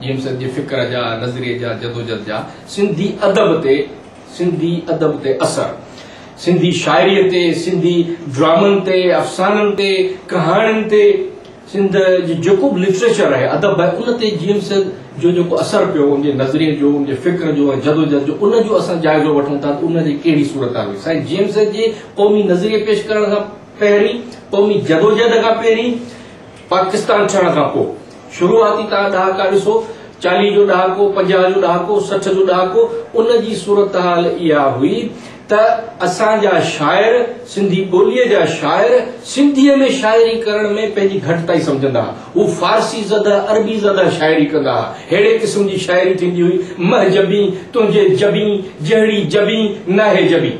جيئن سنڌ جي فڪر جا، نظريي جا، جدوجھد جا سنڌي ادب تي سنڌي ادب تي اثر، سنڌي شاعريء تي، سنڌي ڊرامن تي، افسانن تي، ڪهاڻين تي، سنڌ جو جيڪو به لٽريچر آهي، ادب آهي، ان تي جيئن سنڌ جو جيڪو اثر پيو، ان جي نظريي جو، ان جي فڪر جو ۽ جدوجھد جو، ان جو اسان جائزو وٺون ٿا ته ان جي ڪهڙي صورتحال هئي. سائين جيئن سنڌ جي قومي نظريي پيش ڪرڻ کان پهرين، قومي جدوجھد کان پهرين، پاڪستان ٺهڻ کان پوء شروعاتي تان ڏهاڪا ڏسو، چاليهه جو ڏهاڪو، پنجاهه جو ڏهاڪو، سٺ جو ڏهاڪو، ان جي صورتحال اها هئي ته اسان جا شاعر، سنڌي ٻوليء جا شاعر، سنڌيء ۾ شاعري ڪرڻ ۾ پنهنجي گهٽتائي سمجهندا ها. هو فارسي زده، عربي زده شاعري ڪندا ها. ههڙي قسم جي شاعري ٿيندي هئي، مهجبين، تنهنجي جبين، جهڙي جبين، ناهي جبين.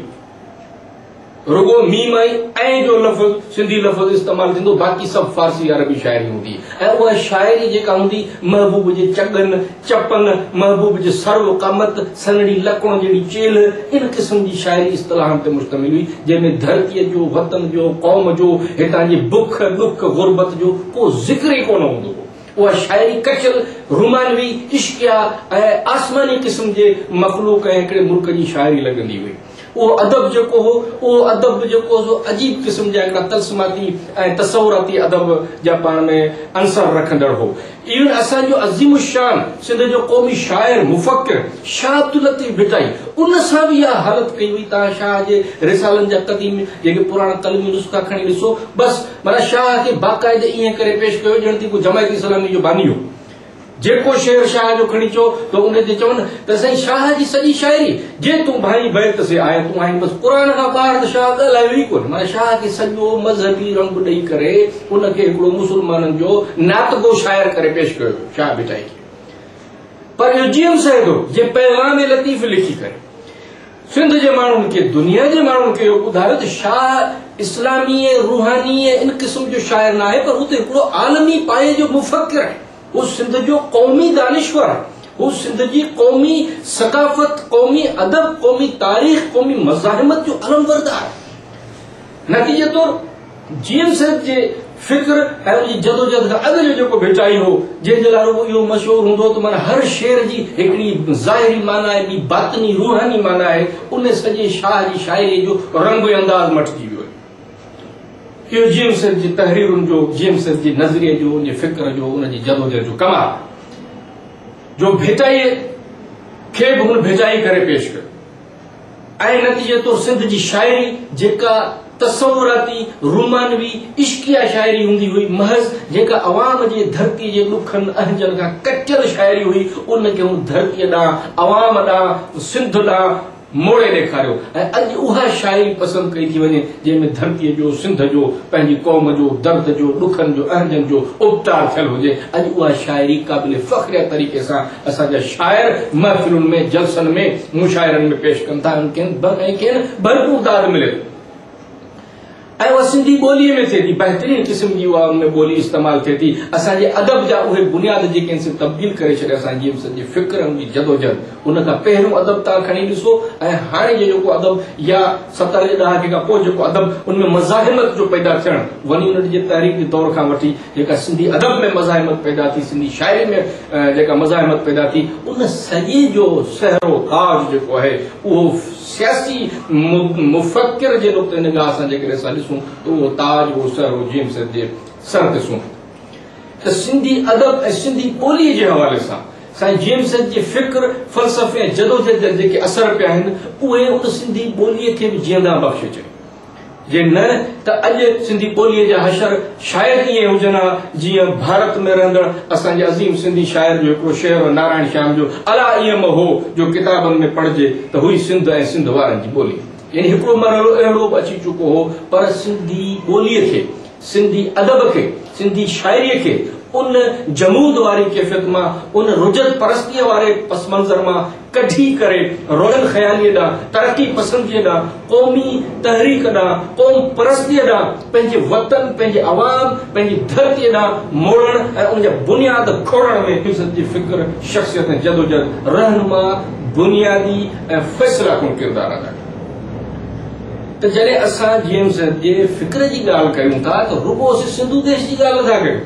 رڳو ميم ۽ ۽ جو لفظ سنڌي لفظ استعمال ٿيندو باقي سڀ فارسي يا عربي شاعري هوندي ۽ اها شاعري جيڪا هوندي محبوب جي چڳن، چپن، محبوب جي سرو، قامت، سنهڙي لڪڻ جهڙي چيلهه ان قسم جي شاعري اصطلاحن تي مشتمل هئي جنهن ۾ ڌرتيء جو، وطن جو، قوم جو، هتان جي بک، ڏک، غربت جو ڪو ذڪر ئي ڪونه هوندو هو. اها شاعري ڪچل، رومانوي، عشقيه ۽ آسماني قسم جي مخلوق ۽ هڪڙي ملڪ جي شاعري لڳندي هئي. اهو ادب جيڪو هو، اهو ادب به جيڪو هو سو عجيب قسم جا هڪڙا طلسماتي ۽ تصوراتي ادب جا پاڻ ۾ عنصر رکندڙ هو. ايون اسان جو عظيم الشان سنڌ جو قومي شاعر مفڪر شاهه عبداللطيف ڀٽائي ان سان به اها حالت ڪئي هئي. توهان شاهه جي رسالن جا قديم جيڪي پراڻا قلمي نسخا کڻي ڏسو بس معنيٰ شاهه کي باقاعده ائين ڪري پيش ڪيو ڄڻ ته ڪو جماعت اسلامي جو باني هو. جيڪو شعر شاهه جو کڻي چئو ته ان تي چون ته سائين شاهه جي سڄي شاعري جي تون ڀائي بيت سي آئي تون آهين بس قرآن کان ٻاهر ته شاهه ڳالهايو ئي ڪونه معنيٰ شاهه کي سڄو مذهبي رنگ ڏئي ڪري ان کي هڪڙو مسلمانن جو ناتگو شاعر ڪري پيش ڪيو ويو شاهه ڀٽائي کي پر اهو جي ايم سيد هو جنهن پيغام لطيف لکي ڪري سنڌ جي ماڻهن کي دنيا جي ماڻهن کي اهو ٻڌايو ته شاهه اسلامي ۽ روحاني ۽ ان قسم جو شاعر ناهي پر هو ته هڪڙو عالمي پايي جو مفڪر آهي، هو سنڌ جو قومي دانشور آهي، هو سنڌ جي قومي ثقافت، قومي ادب، قومي تاريخ، قومي مزاحمت جو علمبردار آهي. نتيجي طور. جيئن سيد جي فڪر ۽ ان جي جدوجهد کان اڳ جو جيڪو ڀٽائي هو، جنهن جي لاء رڳو اهو مشهور هوندو هو ته معنيٰ هر شعر جي هڪڙي ظاهري معنيٰ ۽ ٻي باطني روحاني معنيٰ آهي، ان سڄي شاهه جي شاعريء جو رنگ ۽ انداز مٽجي ويو آهي. اهو جيئن سيد جي تحريرن جو، جيئن سيد جي نظريي جو، ان جي فڪر جو، ان جي جدوجهد جو ڪمال آهي، جو ڀٽائيء کي به هن ڀٽائي ڪري پيش ڪيو. ۽ نتيجي طور سنڌ جي شاعري جيڪا تصوراتي، رومانوي، عشقيه شاعري هوندي هئي، محض جيڪا عوام جي ڌرتي جي ڏکن اهنجن کان ڪٽيل شاعري هئي، ان کي هن ڌرتي ڏانهن، عوام ڏانهن، سنڌ ڏانهن موڙي ڏيکاريو ۽ اڄ اها شاعري پسند ڪئي ٿي وڃي، جنهن ۾ ڌرتي جو، سنڌ جو، پنهنجي قوم جو، درد جو، ڏکن جو، اهنجن جو اپٽار ٿيل هجي. اڄ اها شاعري قابل فخريه طريقي سان اسان جا شاعر محفلن ۾، جلسن ۾، مشاعرن ۾ پيش ڪن ٿا ۽ کين ڀرپور داد ملي ٿي ۽ اها سنڌي ٻوليء ۾ ٿئي ٿي. بهترين قسم جي اها ان ۾ ٻولي استعمال ٿئي ٿي. اسان جي ادب جا اهي بنياد جيڪي ان سين تبديل ڪري ڇڏيا اسان جي سن جي فڪر ان جي جدوجهد ان کان پهريون ادب توهان کڻي ڏسو ۽ هاڻي جو جيڪو ادب يا ستر جي ڏهاڪي کان پوء جيڪو ادب ان ۾ مزاحمت جو پيدا ٿيڻ وني يونٽ جي تحريڪي دور کان وٺي جيڪا سنڌي ادب ۾ مزاحمت پيدا ٿي، سنڌي شاعري ۾ جيڪا مزاحمت پيدا ٿي، ان سڄي جو سهرو و تاج جيڪو آهي، اهو سياسي مفڪر جي نقطه نگاهه سان جيڪڏهن اسان ڏسون ته اهو تاج، اهو سهرو جيئن سيد جي سر تي سونهن ٿو. ته سنڌي ادب ۽ سنڌي ٻوليء جي حوالي سان سائين جيئن سيد جي فڪر، فلسفي ۽ جدوجهد جا جيڪي اثر پيا آهن، اهي ان سنڌي ٻوليء کي به جيئندان بخشي ڇڏيو. جي نه ته اڄ سنڌي ٻوليء جا حشر شايد ائين هجن ها جيئن ڀارت ۾ رهندڙ اسان جي عظيم سنڌي شاعر جو هڪڙو شعر هو نارائڻ شيام جو الا ايئن م هو جو ڪتابن ۾ پڙهجي ته هئي سنڌ ۽ سنڌ وارن جي ٻولي. يعني هڪڙو مرحلو اهڙو به اچي چڪو هو پر سنڌي ٻوليء کي سنڌي ادب کي، سنڌي شاعريء کي ان جمود واري ڪيفيت مان، ان رجعت پرستيء واري پس منظر مان ڪڍي ڪري روشن خياليء ڏانهن، ترقي پسنديء ڏانهن، قومي تحريڪ ڏانهن، قوم پرستيء ڏانهن، پنهنجي وطن، پنهنجي عوام، پنهنجي ڌرتيء ڏانهن موڙڻ ۽ ان جا بنياد کوڙڻ ۾ فيصد جي فڪر، شخصيت ۽ جدوجهد رهنما، بنيادي ۽ فيصله ڪن ڪردار ادا ڪيو. ته جڏهن اسان جي ايم سيد جي فڪر جي ڳالهه ڪيون ٿا ته رڳو اسين سنڌو ديش جي ڳالهه نٿا ڪيون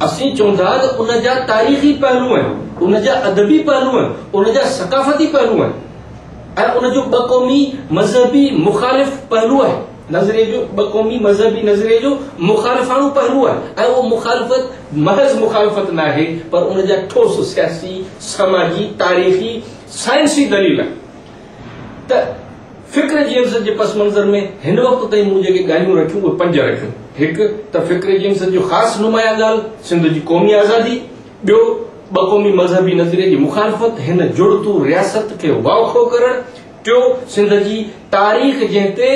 اسين چون ٿا ته ان جا تاريخي پهلو آهن ان جا ادبي پهلو آهن ان جا ثقافتي پهلو آهن ۽ ان جو ٻه قومي مذهبي مخالف پهلو آهي نظريي جو ٻه قومي مذهبي نظريي جو مخالفاڻو پهلو آهي ۽ اهو مخالفت محض مخالفت ناهي پر ان جا ٺوس سياسي سماجي تاريخي سائنسي دليل آهن ته فڪر جيمس جي پس منظر ۾ هن وقت تائين مون جيڪي ڳالهيون رکيون اهي پنج رکيون. هڪ ته فڪر جيمس جي خاص نمايان ڳالهه سنڌ جي قومي آزادي، ٻيو ٻه قومي مذهبي نظريي جي مخالفت، هن جڙتو رياست کي واکو ڪرڻ، ٽيو سنڌ جي تاريخ جنهن تي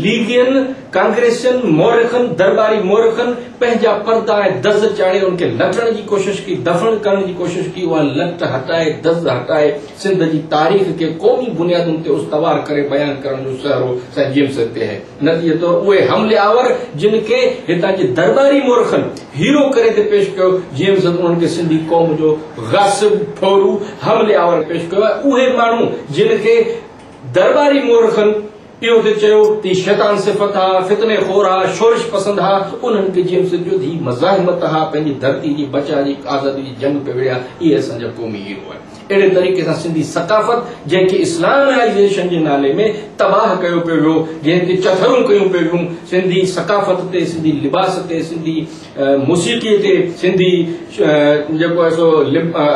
ليگين، ڪانگريسين، مورخن، درٻاري مورخن پنهنجا پردا ۽ دز چاڙهي ان کي لٽڻ جي ڪوشش ڪئي، دفن ڪرڻ جي ڪوشش ڪئي، اها لٽ هٽائي، دز هٽائي، سنڌ جي تاريخ کي قومي بنيادن تي استوار ڪري بيان ڪرڻ جو سهرو سائين جيمس اڳتي آهي. نتيجي طور اهي حملي آور جن کي هتان جي درٻاري مورخن هيرو ڪري ٿي پيش ڪيو، جيمس انهن کي سنڌي قوم جو غاصب، ڦورو، حملي آور پيش ڪيو آهي. اهي ماڻهو جن کي درٻاري مورخن. اهو ته چيو ته شيطان صفت ها، فتني خور ها، شورش پسند ها، انهن کي جيئن سڏجو ته هي مزاحمت ها، پنهنجي ڌرتي جي بچاء جي آزادي جي جنگ پئي وڙهيا، اهي اسان جا قومي هيرو آهن. اهڙي طريقي سان سنڌي ثقافت جنهن کي اسلامائيزيشن جي نالي ۾ تباهه ڪيو پيو ويو، جنهن تي چٿرون ڪيون پيون ويون، سنڌي ثقافت تي، سنڌي لباس تي، سنڌي موسيقي تي، سنڌي جيڪو آهي سو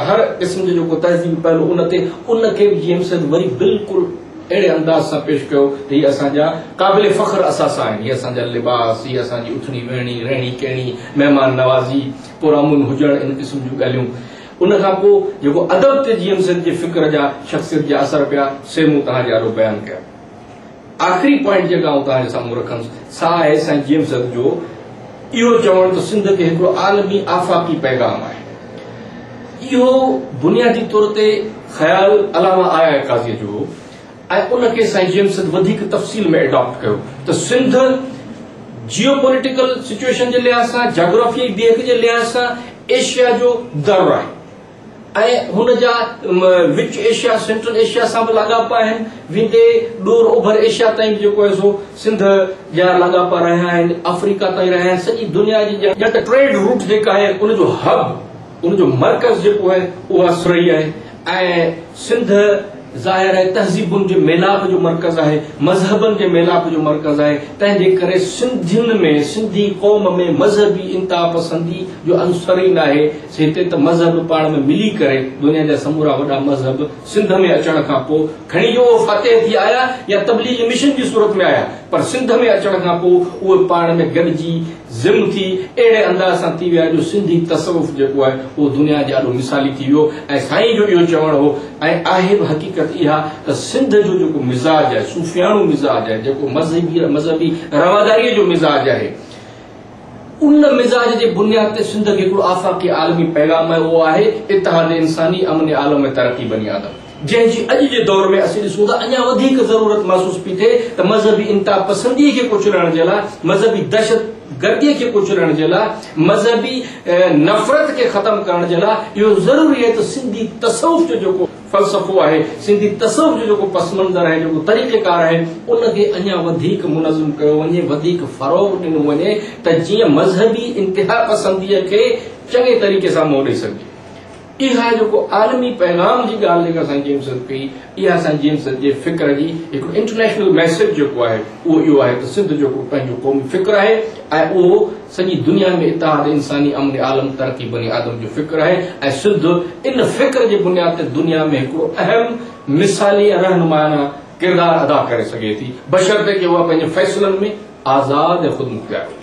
هر قسم جو جيڪو تهذيبي پهلو ان تي، ان کي به جيئن سڏجو وري بلڪل اهڙي انداز سان پيش ڪيو ته هي اسان جا قابل فخر اثاثا آهن، هي اسان جا لباس، هيء اسان جي اٿڻي ويهڻي، رهڻي ڪهڻي، مهمان نوازي، پرامن هجڻ ان قسم جون ڳالهيون. ان کان پوء جيڪو ادب تي جي ايم سيد جي فڪر جا شخصيت جا اثر پيا سي مون توهان جي آڏو بيان ڪيا. آخري پوائنٽ جيڪا آئون توهان جي سامهون رکنس سا آهي سائين جي ايم سيد جو اهو چوڻ ته سنڌ کي هڪڙو عالمي آفاقي پيغام آهي. اهو بنيادي طور تي خيال علامه آء آء قاضيء جو هو ۽ ان کي سائين جيمس سنڌ وڌيڪ تفصيل ۾ ايڊاپٽ ڪيو ته سنڌ جيو پوليٽيڪل سچوئيشن جي لحاظ سان جاگرافيائي بيهڪ جي لحاظ سان ايشيا جو در آهي ۽ هن جا وچ ايشيا سينٽرل ايشيا سان به لاڳاپا آهن ويندي ڏور اوڀر ايشيا تائين به جيڪو آهي سو سنڌ جا لاڳاپا رهيا آهن، آفريڪا تائين رهيا آهن، سڄي دنيا جي ڄڻ ٽريڊ روٽ جيڪا آهي ان جو هب، ان جو مرڪز جيڪو آهي اها سرهي آهي ۽ سنڌ ظاهر آهي تهذيبن جي ميلاپ جو مرڪز آهي، مذهبن جي ميلاپ جو مرڪز آهي، تنهن جي ڪري سنڌين ۾ سنڌي قوم ۾ مذهبي انتها پسندي جو عنصر ئي ناهي، هتي ته مذهب پاڻ ۾ ملي ڪري دنيا جا سمورا وڏا مذهب سنڌ ۾ اچڻ کان پوء کڻي جو اهي فاتح ٿي آيا يا تبليغي مشن جي صورت ۾ آيا پر سنڌ ۾ اچڻ کان پوء اهي پاڻ ۾ گڏجي ضم ٿي اهڙي انداز سان ٿي ويا جو سنڌي تصوف جيڪو آهي اهو دنيا جي آڏو مثالي ٿي ويو ۽ سائين جو اهو چوڻ هو ۽ آهي به حقيقت اها ته سنڌ جو جيڪو مزاج آهي صوفياڻو مزاج آهي جيڪو مذهبي رواداريء جو مزاج آهي ان مزاج جي بنياد تي سنڌ کي هڪڙو آفاقي عالمي پيغام آهي اهو آهي اتحاد انساني امن عالم ۾ ترقي بني آدم جنهن جي اڄ جي دور ۾ اسين ڏسون ٿا اڃا وڌيڪ ضرورت محسوس پي ٿئي ته مذهبي انتها پسندي کي ڪچلڻ جي لاء مذهبي دهشت گردي کي ڪچلڻ جي لاء مذهبي نفرت کي ختم ڪرڻ جي لاء اهو ضروري آهي ته سنڌي تصوف جو جيڪو فلسفو آهي، سنڌي تصوف جو جيڪو پس منظر آهي، جيڪو طريقيڪار آهي، ان کي اڃا وڌيڪ منظم ڪيو وڃي، وڌيڪ فروغ ڏنو وڃي ته جيئن مذهبي انتهاپسنديء کي چڱي طريقي سان منهن ڏئي سگهجي. اها جيڪو عالمي پيغام جي ڳالهه جيڪا سائين جيمس سيد ڪئي، اها سائين جيمس سيد جي فڪر جي هڪڙو انٽرنيشنل ميسيج جيڪو آهي، اهو اهو آهي ته سنڌ جيڪو پنهنجو قومي فڪر آهي ۽ اهو سڄي دنيا ۾ اتحاد انساني امن عالم ترقي بني آدم جو فڪر آهي ۽ سنڌ ان فڪر جي بنياد تي دنيا ۾ هڪڙو اهم مثالي ۽ رهنمائانا ڪردار ادا ڪري سگهي ٿي بشرطيڪ اها پنهنجي فيصلن ۾ آزاد ۽ خودمختيار هجي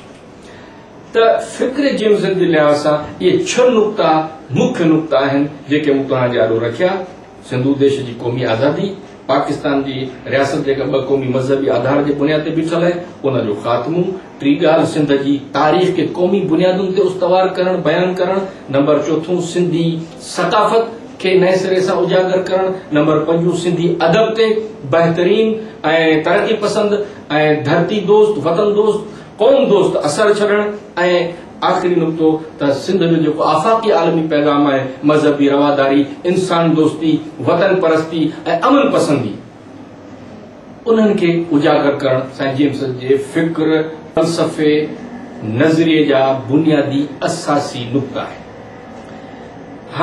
ته فڪر جيوزن جي لحاظ سان اهي ڇهه نقطا مکيه نقطا آهن جيڪي مون توهان جي آڏو رکيا سنڌو ديش جي قومي آزادي پاڪستان جي رياست جيڪا ٻه قومي مذهبي آڌار جي بنياد تي بيٺل آهي ان جو خاتمو ٽي ڳالهه سنڌ جي تاريخ کي قومي بنيادن تي استوار ڪرڻ، بيان ڪرڻ، نمبر چوٿون سنڌي ثقافت کي نئين سري سان اجاگر ڪرڻ، نمبر پنجون سنڌي ادب تي بهترين ۽ ترقي پسند ۽ ڌرتي دوست، وطن دوست، قوم دوست اثر ڇڏڻ ۽ آخري نقطو ته سنڌ جو جيڪو آفاقي عالمي پيغام آهي مذهبي رواداري، انسان دوستي، وطن پرستي ۽ امن پسندي. انهن کي اجاگر ڪرڻ سائين جيمس جي فڪر، فلسفي، نظريي جا بنيادي اثاثي نقطا آهن.